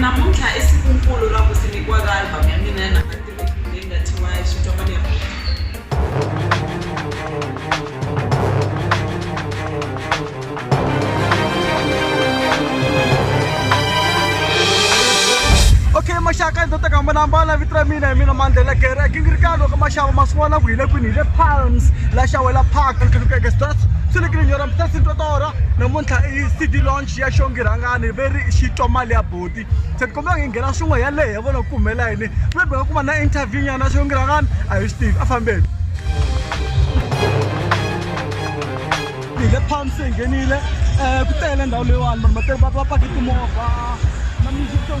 Namuntlha i siku-nkulu ra ku simekiwa ka album ya mina ya number 3 leyi nga thyiwa Xitwa Mali Ya Muti. Okay maxaka ndzi ta ka mbona mbala vito ra mina hi mina mandlela gere gingirika loko maxava ma swi vona ku hi le kwini hi le palms la xawela park lukeke stars swi le kini nyora mutasi ntotora namuntlha i cd launch xiya xongi rhangani ve ri xi twa mali ya boti se ti kombela ngi nghena swin'we ya lehe vona ku humelela yini ve beka kuma na interview nyana xongi rhangani a hi swi tivi a fambeni hi le palm se hi nghenile um ku tele ndhawu leyiwani vanhu va pake timovha na music so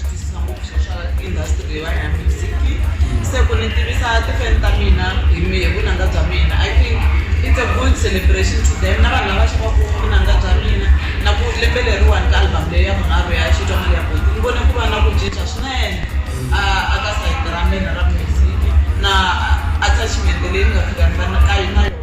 twisisa ngopfu swo swa industry leyiwani ya music se ku ni tivisa ti-fan ta mina hi mi hi vunanga bya mina i think it's a good celebration to them na vanhu lava xavaku vunanga bya mina na ku lembe leriwani ka album leyi ya vunharhu ya xitwa mali ya boti ni vone ku va na ku cinca swinene a a ka sayiti ra mina ra music na attachment leyi ni nga fika ni va na ka na yona.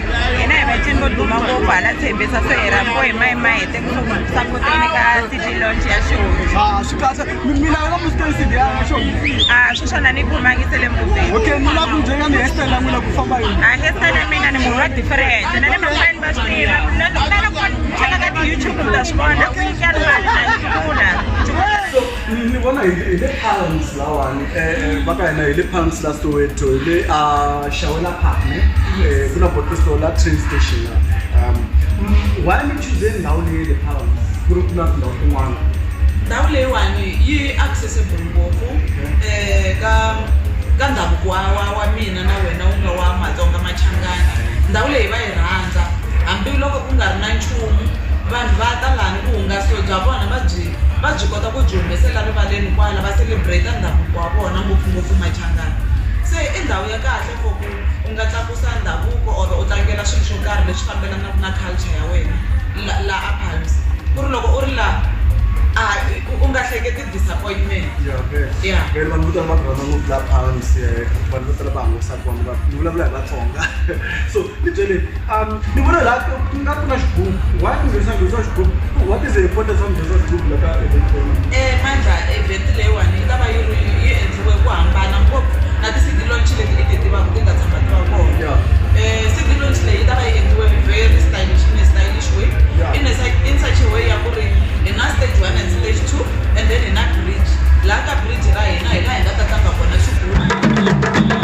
hina hi vacini vo duma ngopfu hala tshembisa se hi rambo hi mayi mayi te kusuku sapoteni ka city lonch ya xohoaa swi swona ni khomangise le museahestele mina ni munhu wa different na le mafani va swi tiva loko u lava ku cheka ka ti-youtube u ta swi vona u nyikela mali na yi pfula Ni ni vona hi hi le Palms lahawani eh va ka hina hi le Palms la Soweto hi le a Shawela Park ne eh ku na bottle store la train station la um mm, why mi choose ndhawu leyi le Palms ku ri ku na tindhawu tin'wana ndhawu leyiwani yi accessible ngopfu Okay. eh ka ka ndhavuko wa wa wa mina na wena wu nga wa matsonga machangana ndhawu leyi va yi rhandza hambiloko ku nga ri na nchumu vanhu va ta lani vuhungasi bya vona va byi va byi kota ku byi humesela rivaleni kwala va celebrate ndhavuko wa vona ngopfungopfu Machangani se i ndhawu ya kahle for ku u nga tlakusa ndhavuko or u tlangela swilo swo karhi leswi fambelanaka na culture ya wena laha a palms ku ri loko u ri laha a u nga hleketi disappointment ya vele vanhu vo tala va rhandza ngopfu laha palms vanhu vo tala va hangalasa kona va ni vulavula hi Vatsonga so ni byele. Ni vona laha nga ku na xigubu why ku nghenisa nghozi wa xigubu what is the importance of nghozi wa xigubu la ka event leyiwani Mandla event leyiwani yi ta va yi ri yi endliwe ku hambana ngopfu na ti-city launch leti i ti tivaka ti nga tshama ti va kona Yeah. um city launch leyi yi ta va yi endliwe very stylish in a stylish way Yeah. in a such- in such a way ya ku ri hi na stage one and stage two and then hi na bridge laha ka bridge ra hina hi laha hi nga ta tlanga kona xigubu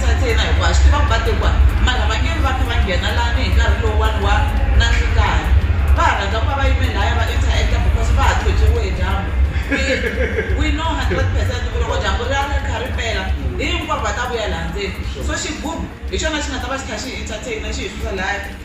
Tsakela hikuva swi tiva ku vatekiwa mara va nge vi va kha va nghena lani hi nkarhi lowuwani wa nandzikani va ha rhandza ku va va yime laya va interact-a because va ha pyopyiwe hi dyambu we we know hundred percent ku loko dyambu ri ya ri kha ri pela hinkwavo va ta vuya laha ndzeni so xigubu hi xona xi nga ta va xi kha xi hi entertain-a xi hi susa laya.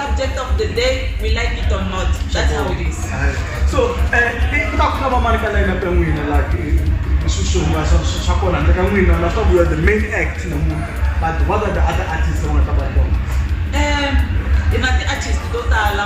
subject of the day we like it or not that's how it is so eh, ku ta ku ta va mani ka layina ka n'wina la swi swi hungasa swa kona handle ka n'wina na swa vuya the main act namuntlha but what are the other artists va nga ta va ri kona um hi na ti-artist to tala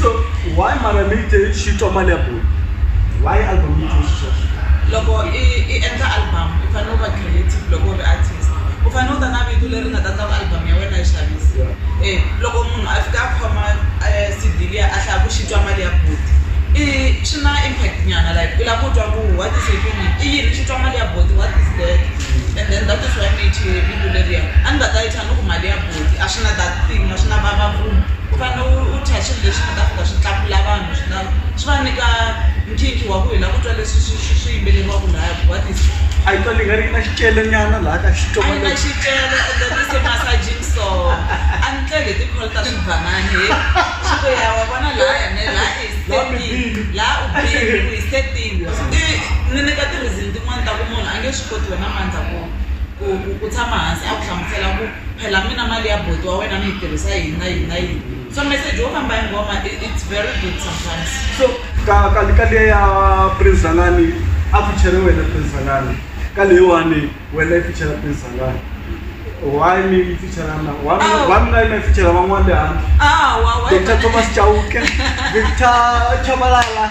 so why mara mi te xi twa mali ya bulu why album yi twe xisweswo loko i i endla album i fanele u va creative loko u ri artist u fanele u ta na vito leri nga ta endla ku album ya wena yi xavisa Yeah. e loko munhu a fika a khoma um C_D liya a hlaya ku xi twa mali ya buti i swi na impact nyana like u lava ku twa ku what is happening i yini xi twa mali ya buti what is that and then that is why ni yi thye vito leriya a ni nga ta yi thya ni ku mali ya . a swi na a swi na vavabyi u fanele u dya swilo leswi nga ta fika swi tlakula vanhu swi nga swi va nyika nkhinkhi wa ku hi lava ku twa leswi swi swi swi yimbeleriwaka laya ku what is a yi twali nga ri na xicelanyana laha ka xitsonga na xicela and then it's a massaging song a ni tlele hi ti-call ta swibhanani he swi ku ya wa vona laya ne la i setting la u bini ku hi setting i ni nyika ti-reason tin'wani ta ku munhu a nge swi koti wena mandza ku ku ku ku tshama hansi a ku hlamusela ku phela mi na mali ya buti wa wena mi yi tirhisa yini na yini na yini so meseji wo famba hi nghoma it's very good sometimes so ka ka ka le ya prince zalani a feature wena prince zalani ka leyiwani wena i feature prince zalani why mi yi feature na wa Oh. wa mina yi feature van'wana le handle ah wa wa Dr. Thomas Chauke, Victor Chabalala.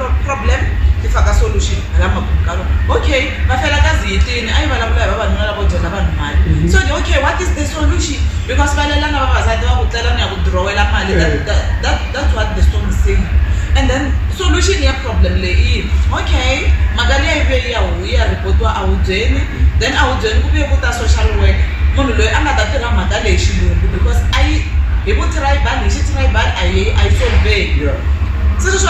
problem ti faka solution hala makumu ka rona okay va fela ka ziyitini a yi vulavula hi vavanuna lavo dyela vanhu mali mhm. so the okay what is the solution because va lelana vavasati va ku tlela ni ya ku dirowela mali that's what the song saying and then solution ya problem leyi i yini okay mhaka leyi yi veyi ya yi ya reportiwa ahubyeni then ahubyeni ku vuye ku ta social work munhu loyi a nga ta tirha mhaka leyi xilungu because a yi hi vu tribal hi xi tribal a yi a yi solveki se sweswo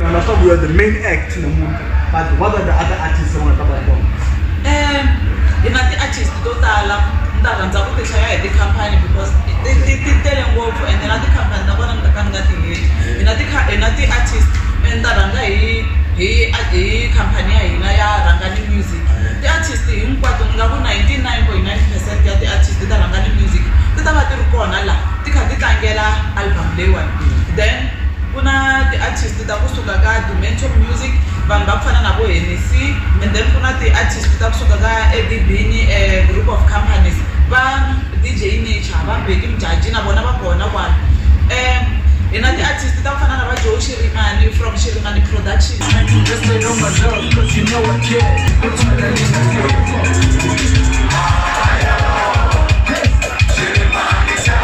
na na sabu you are the main act na muti but what are the other artists va nga ta va ri kona um hi na ti-artist to tala ni ta rhandza ku ti hlaya hi tikhampani because ti- ti ti tele ngopfu ende na tikhampani ta vona ni ta ka ni nga ti heli hi na tikha- hi na ti-artist me ni ta rhanga hi hi hi khampani ya hina ya rhangani music ti-artist hinkwato ni nga ku 99 point 9 percent ya ti-artist ta rhangani music ti ta va ti ri kona laha ti kha ti tlangela album leyiwani then Ku na ti artist ta kusuka ka Dumento music vanhu va ku fana na vo Hennessy and then ku na ti artist ta kusuka ka Eddie Bini group of companies va DJ Nature va Bheki Mjaji na vona va kona kwala hi na ti artist ta ku fana na va Joe Shirimani from Shirimani production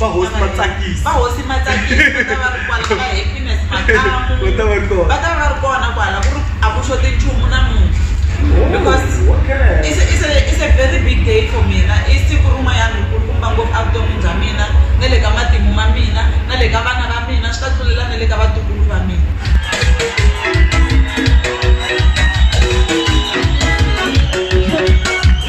vahosi va tsakisa vahosi ma tsakisa ta va ri kwala va happiness makamu va ta va ri kona va ta va ri kona kwala ku ri a ku xoti nchumu namuntlha because it's, it's, a, it's a very big day for mina i siku rin'wanyana rikulukumba ngopfu evuton'wini bya mina na le ka matimu ma mina na le ka vana va mina swi ta tlulela na le ka vatukulu va mina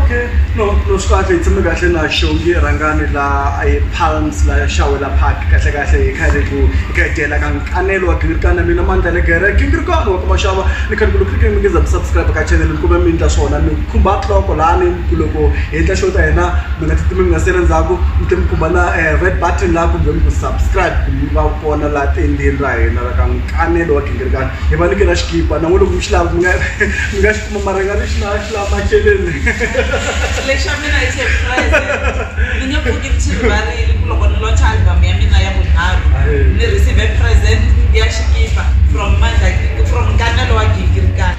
Okay no no swi kahle hi tshame kahle na xongi rhangani la ePalms la Xawula Park kahle kahle hi kha hi ri ku hi kha hi dyela ka Nkanelo wa gingirikani na mina Mandla Negere gingirikani wa ka Mashava ni khale ku loko mi nge za mi subscribe ka channel ni kombela mi ndla swona mi. khumba nhloko lani ku loko hi endla show ta hina mi nga ti timi mi nga sali ndzhaku mi tlhe mi khumba na red button la kumbe mi ku subscribe ku mi va kona la tendeni ra hina ra ka Nkanelo wa Gingirikani hi va nyikela xikipa na n'wina loko mi xi lava mi nga mi nga xi kuma mara hi nga ri xi lava xi lava macheleni Lexa mina i surprise ni nge pfuki ni xi rivarile ku loko ni launch album ya mina ya vunharhu ni receive present ya xikipa from Mandla from Nkanelo wa Gingirikani.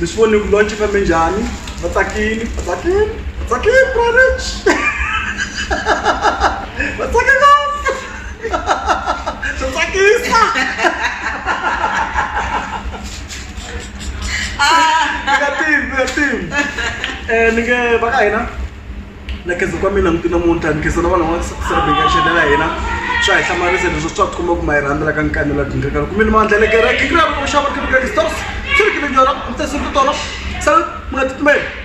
mi swi voni ku launch fambe njhani va tsakini va tsakini va tsakini brorich va tsake ngopfu swa tsakisa mi nga tivi mi nga tivi ni nge va ka hina na khensa ku va mi langute namuntlha ni khensa na vanhu lava celebration ya hina swa hi hlamarisa leswi swa tikomba ku ma yi rhandza la ka nkani la dingaka loko mi ni mandla le kereke ku lava ku xava kereke stores swi ri kile nyora mi tsese ku tolo sa mi nga titimeli